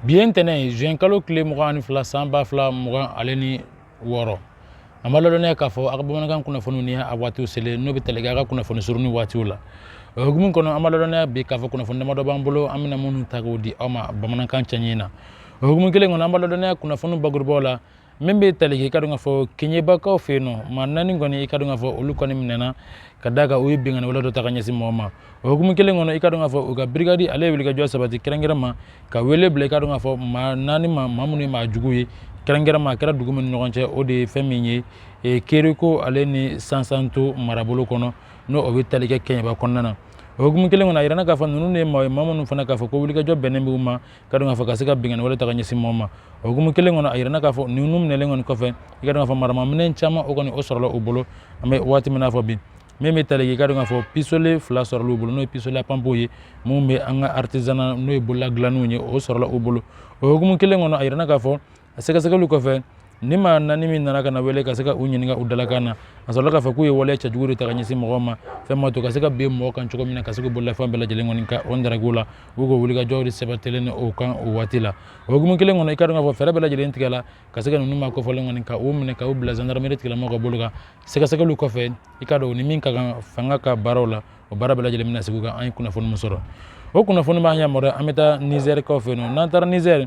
bi ye ntɛnɛn ye zuwɛn kalo tile mugan ani fila san ba fila mugan ale ni wɔɔrɔ an b'a ladɔnniya k'a fɔ a ka bamanankan kunnafoniw ni a waatiw selen n'o bɛ tali kɛ a ka kunnafoni surunni waatiw la o hukumu kɔnɔ an b'a ladɔnniya bi k'a fɔ kunnafoni damadɔ b'an bolo an bɛna minnu ta k'o di aw ma bamanankan cɛɲi na o hukumu kelen kɔnɔ an b'a ladɔnniya kunnafoni bakurubaw la min bɛ tali kɛ i ka dɔn k'a fɔ kɛɲɛbakaw fɛ yen nɔ maa naani kɔni i ka dɔn k'a fɔ olu kɔni minɛna ka d'a kan u ye binkanni wale dɔ ta ka ɲɛsin mɔgɔ ma o hukumu kelen kɔnɔ i ka dɔn k'a fɔ u ka birikadi ale ye wulikajɔ sabati kɛrɛnkɛrɛn ma ka wele bila i ka dɔn k'a fɔ maa naani ma maa minnu ye maa jugu ye kɛrɛnkɛrɛn ma a kɛra dugu min ni ɲɔgɔn cɛ o de ye fɛn min ye e, kereko ale ni sansanto marabolo kɔnɔ n'o o bɛ tali kɛ kɛɲɛba kɔnɔna na o hukumu kelen kɔnɔ a yirana k'a fɔ ninnu de ye maa ye maa minnu fana k'a fɔ ko wulikajɔ bɛnnen b'u ma ka dɔn k'a fɔ ka se ka binkanni wale ta ka ɲɛsin mɔgɔ ma o hukumu kelen kɔnɔ a yirana k'a fɔ ninnu minɛlen kɔni kɔfɛ i ka dɔn k'a fɔ maramaminɛn caman o kɔni o sɔrɔla u bolo an bɛ waati min na fɔ bi min bɛ tali kɛ i ka dɔn k'a fɔ pisole fila sɔrɔla u bolo n'o ye pisole à pompe ye minnu bɛ an ka artisanat n'o ye bolola dilannenw ye o sɔrɔla u bolo o hukumu kelen kɔnɔ a yirana k'a fɔ a sɛgɛsɛgɛliw kɔfɛ ni maa naani min nana ka na wele ka se ka u ɲininka u dalakan na a sɔrɔla k'a fɔ k'u ye waleya cɛjugu de ta ka ɲɛsin mɔgɔw ma fɛn ma to ka se ka bin mɔgɔ kan cogo min na ka se k'u bololafɛn bɛɛ lajɛlen kɔni ka o ndarako la u k'o wulikajɔw de sabatilen ni o kan o waati la o hukumu kelen kɔnɔ i ka dɔn k'a fɔ fɛɛrɛ bɛɛ lajɛlen tigɛla ka se ka ninnu maa kofɔlen kɔni ka u minɛ ka u bila zandarameri tigilamɔgɔw ka bolo kan sɛgɛsɛgɛliw kɔfɛ i ka dɔn ni min ka kan fanga ka baaraw la o baara bɛɛ lajɛlen bɛna sigi kan an ye kunnafoni min sɔrɔ o kunnafoni b'an yamaruya an bɛ taa nizɛrikaw fɛ yen nɔ n'an taara nizɛri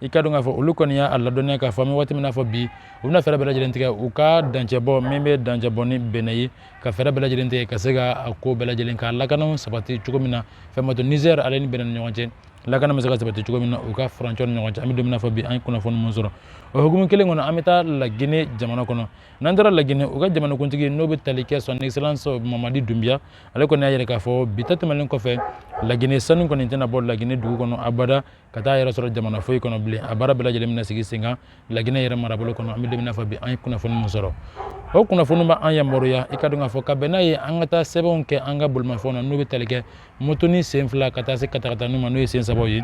i ka dɔn k'a fɔ olu kɔni y'a ladɔnniya k'a fɔ an bɛ waati min na fɔ bi u bɛna fɛɛrɛ bɛɛ lajɛlen tigɛ u ka dancɛ bɔ min bɛ dancɛ bɔ ni benɛn ye ka fɛɛrɛ bɛɛ lajɛlen tigɛ ka se ka a ko bɛɛ lajɛlen k'a lakananw sabati cogo min na fɛn ma to nizɛri ale ni benɛn ni ɲɔgɔn cɛ lakana bɛ se ka sabati cogo min na u ka furancɛ ni ɲɔgɔn cɛ an bɛ don min na fɔ bi an ye kunnafoni min sɔrɔ o hukumu kelen kɔnɔ an bɛ taa lagine jamana kɔnɔ n'an taara lagine u ka jamanakuntigi n'o bɛ tali kɛ son excellence mamadi dunbiya ale kɔni y'a yira k'a fɔ bi ta tɛmɛnen kɔfɛ lagine sanu kɔni tɛna bɔ lagine dugu kɔnɔ abada ka taa yɛrɛ sɔrɔ jamana foyi kɔnɔ bilen a baara bɛɛ lajɛlen bɛna sigi sen kan laginɛ yɛrɛ marabolo kɔnɔ an bɛ don min na fɔ bi an ye kunnafoni min sɔrɔ o kunnafoni bɛ an yamaruya i ka dɔn k'a fɔ ka bɛn n'a ye an ka taa sɛbɛnw kɛ an ka bolimafɛnw na n'o bɛ tali kɛ motoni sen fila ka taa se katakataninw ma n'o ye sen sabaw ye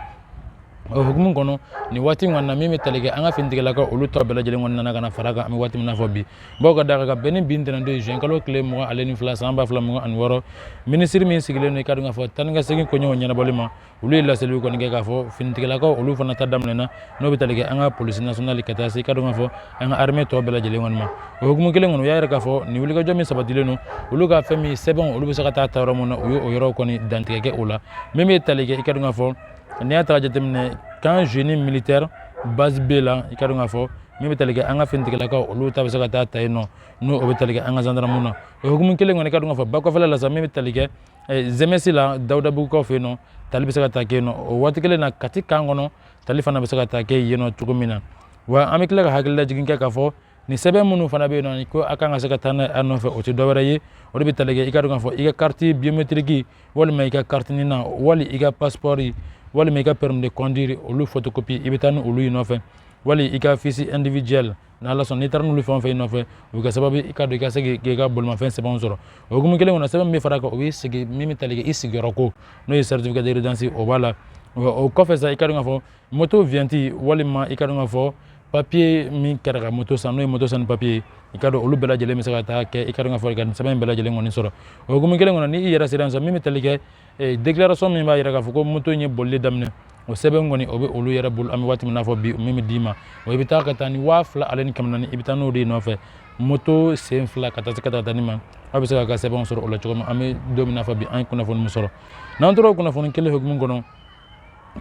o hukumu kɔnɔ nin waati in kɔni na min bɛ tali kɛ an ka finitigilakaw olu tɔ bɛɛ lajɛlen kɔni nana ka na fara kan an bɛ waati min na fɔ bi bawo ka d'a kan ka bɛn ni bi ntɛnɛndon ye juin kalo tile mugan ale ni fila san ba fila mugan ani wɔɔrɔ minisiri min sigilen don i ka dɔn k'a fɔ taa ni ka segin koɲɛw ɲɛnabɔli ma olu ye laseliw kɔni kɛ k'a fɔ finitigilakaw olu fana ta daminɛna n'o bɛ tali kɛ an ka polisi nasionali ka taa se i ka dɔn k'a fɔ an ka armée tɔ bɛɛ lajɛlen kɔni ma o hukumu kelen kɔnɔ u y'a yira k'a fɔ nin wulikajɔ min sabatilen don olu ka fɛn min sɛbɛnw olu bɛ se ka taa ta yɔrɔ min na u ye o yɔrɔw kɔni dantigɛ kɛ o la min bɛ tali kɛ i ka dɔn k'a fɔ n'i y'a ta jateminɛ camp génie militaire base b la i ka dɔn k'a fɔ min bɛ tali kɛ an ka finitigilakaw olu ta bɛ se ka taa ta yen nɔ n'o o bɛ tali kɛ an ka zandaramuw na o hukumu kelen kɔnɔ i ka dɔn k'a fɔ bakɔfɛla la sa min bɛ tali kɛ eh, zemesi la dawudabugukaw fɛ yen nɔ tali bɛ se ka ta kɛ yen nɔ o waati kelen na kati kan kɔnɔ tali fana bɛ se ka ta kɛ yen nɔ cogo min na wa an bɛ tila ka hakililajigin kɛ k'a fɔ nin sɛbɛn minnu fana bɛ yen nɔ ko a kan ka se ka taa n'a a nɔfɛ o tɛ dɔwɛrɛ ye o de bɛ tali kɛ i ka dɔn k'a fɔ i ka kariti biometiriki walima i ka kariti nina wali i ka pasipɔri walima i ka permis de conduire olu photocopie i bɛ taa ni olu ye nɔfɛ wali i ka fiche individuelle n'ala sɔnna n'i taara n'olu fɛn o fɛn nɔfɛ o bɛ kɛ sababu i ka dɔn i ka se k'i ka bolimafɛn sɛbɛnw sɔrɔ o hukumu kelen kɔnɔ sɛbɛn min bɛ fara kan o bɛ sigi min bɛ tali kɛ i sigiyɔrɔ ko n'o ye certificat de résidence o b'a la o kɔfɛ sa i ka dɔn k'a fɔ moto viɲɛti walima i ka dɔn k'a fɔ papiye min kɛra ka moto san n'o ye moto sanni papiye ye i ka dɔn olu bɛɛ lajɛlen bɛ se ka taa kɛ i ka dɔn k'a fɔ i ka nin sɛbɛn in bɛɛ lajɛlen kɔni sɔrɔ o hukumu kelen kɔnɔ ni i yɛrɛ sera yen sa min bɛ tali kɛ eh, déclaration min b'a yira k'a fɔ ko moto in ye bolili daminɛ o sɛbɛn kɔni o bɛ olu yɛrɛ bolo an bɛ waati min n'a fɔ bi min bɛ d'i ma o i bɛ taa ka taa ni waa fila ale ni kɛmɛ naani i bɛ taa n'o de nɔfɛ moto sen fila ka taa se katakatanin ma aw bɛ se k'a ka sɛbɛnw sɔrɔ o la cogo min an bɛ don min n'a fɔ bi an ye kunnafoni min sɔrɔ n'an tora o kunnafoni kelen hukumu kɔnɔ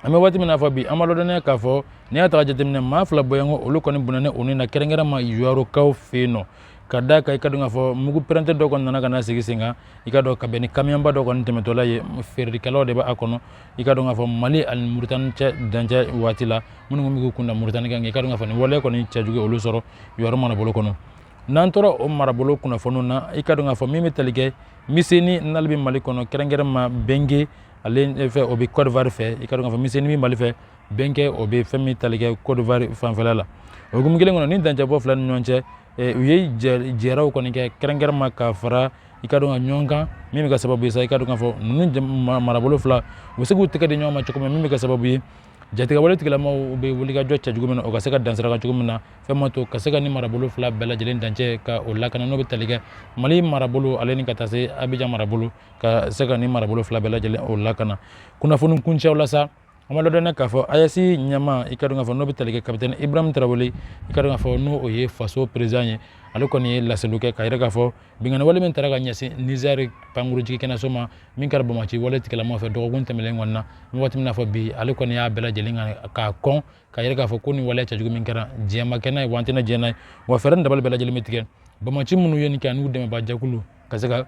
an bɛ waati min n'a fɔ bi an b'aw ladɔnniya k'a fɔ n'i y'a ta ka jateminɛ maa fila bɔɲɔgɔn olu kɔni bɔnɛnen u ni na kɛrɛnkɛrɛnma ɲɔrɔkaw fɛ yen nɔ k'a da kan i ka dɔn k'a fɔ mugu pɛrɛnta dɔ kɔni nana ka na sigi sen kan i ka dɔn ka bɛn ni kamiyɔnba dɔ kɔni tɛmɛtɔla ye feerekɛlaw de b'a kɔnɔ i ka dɔn k'a fɔ mali ani muritani cɛ dancɛ waati la minnu kun bɛ kunda muritani kan i ka dɔn k'a fɔ nin waleya kɔni cɛjugu olu sɔrɔ ɲɔrɔ marabolo kɔnɔ n'an tora o marabolo kunnafoniw na i ka dɔn k'a fɔ min bɛ tali kɛ miseni n'ale bɛ mali kɔnɔ kɛrɛnkɛrɛnma bɛnge ale fɛ o bɛ kɔdiwari fɛ i ka dɔn k'a fɔ miseni bɛ mali fɛ bɛnge o bɛ fɛn min tali kɛ kɔdiwari fanfɛla la o hukumu kelen kɔnɔ ni dancɛbɔ fila ni ɲɔgɔn cɛ eh, u ye jɛraw kɔni kɛ kɛrɛnkɛrɛnma ka fara i ka dɔn ka ɲɔgɔn kan min bɛ kɛ sababu ye sa i ka dɔn k'a fɔ ninnu marabolo fila u bɛ se k'u tɛgɛ di ɲɔgɔn ma cogo min min bɛ kɛ sababu ye jatigɛwale tigilamaw bɛ wulikajɔ kɛ cogo min na o ka se ka dansiraka cogo min na fɛn b'a to ka se ka nin marabolo fila bɛɛ lajɛlen dancɛ ka o lakana n'o bɛ tali kɛ mali marabolo ale ni ka taa se abijan marabolo ka se ka nin marabolo fila bɛɛ lajɛlen o lakana kunnafoni kuncɛw la sa An b'aw ladɔnniya k'a fɔ AES ɲɛmaa i ka dɔn k'a fɔ n'o bɛ tali kɛ capitaine Ibrahim Tarawele i ka dɔn k'a fɔ n'o o ye faso président ye ale kɔni ye laseliw kɛ k'a jira k'a fɔ binkanni wale min taara ka ɲɛsin Niger pankurun jiginkɛnɛso ma min kɛra banbaganci wale tigilamaw fɛ dɔgɔkun tɛmɛnlen kɔnɔna an bɛ waati min n'a fɔ bi ale kɔni y'a bɛɛ lajɛlen kɛ k'a kɔn k'a jira k'a fɔ ko nin waleya cɛjugu min kɛra diɲɛ ma kɛ n'a ye wa an tɛna diɲɛ n'a ye wa fɛɛrɛ ni dabali bɛɛ lajɛlen bɛ tigɛ banbaganci minnu ye nin kɛ an'u dɛmɛbaa jɛkulu ka se ka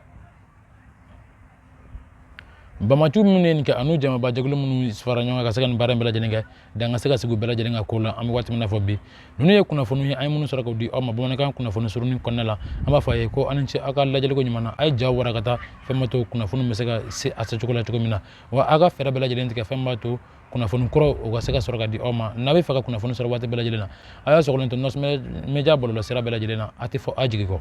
banbaganciw minnu ye nin kɛ an'u jamabajɛkulu minnu fara ɲɔgɔn kan ka se ka nin baara in bɛɛ lajɛlen kɛ dan ka se ka sigi u bɛɛ lajɛlen ka ko la an bɛ waati min n'a fɔ bi ninnu ye kunnafoniw ye an ye minnu sɔrɔ k'u di aw ma bamanankan kunnafoni surunni kɔnɔna la an b'a fɔ a ye ko aw ni ce aw ka lajɛliko ɲuman na a ye jaw wara ka taa fɛn b'a to kunnafoni bɛ se ka se a secogo la cogo min na wa aw ka fɛɛrɛ bɛɛ lajɛlen tigɛ fɛn b'a to kunnafoni kuraw ka se ka sɔrɔ ka di aw ma n'a bɛ fɛ ka kunnafoni sɔrɔ waati bɛɛ lajɛlen na a y'a sɔgɔlen to nɔsmɛ meja bɔlɔlɔsira bɛɛ lajɛlen na a tɛ fɔ aw jigi kɔ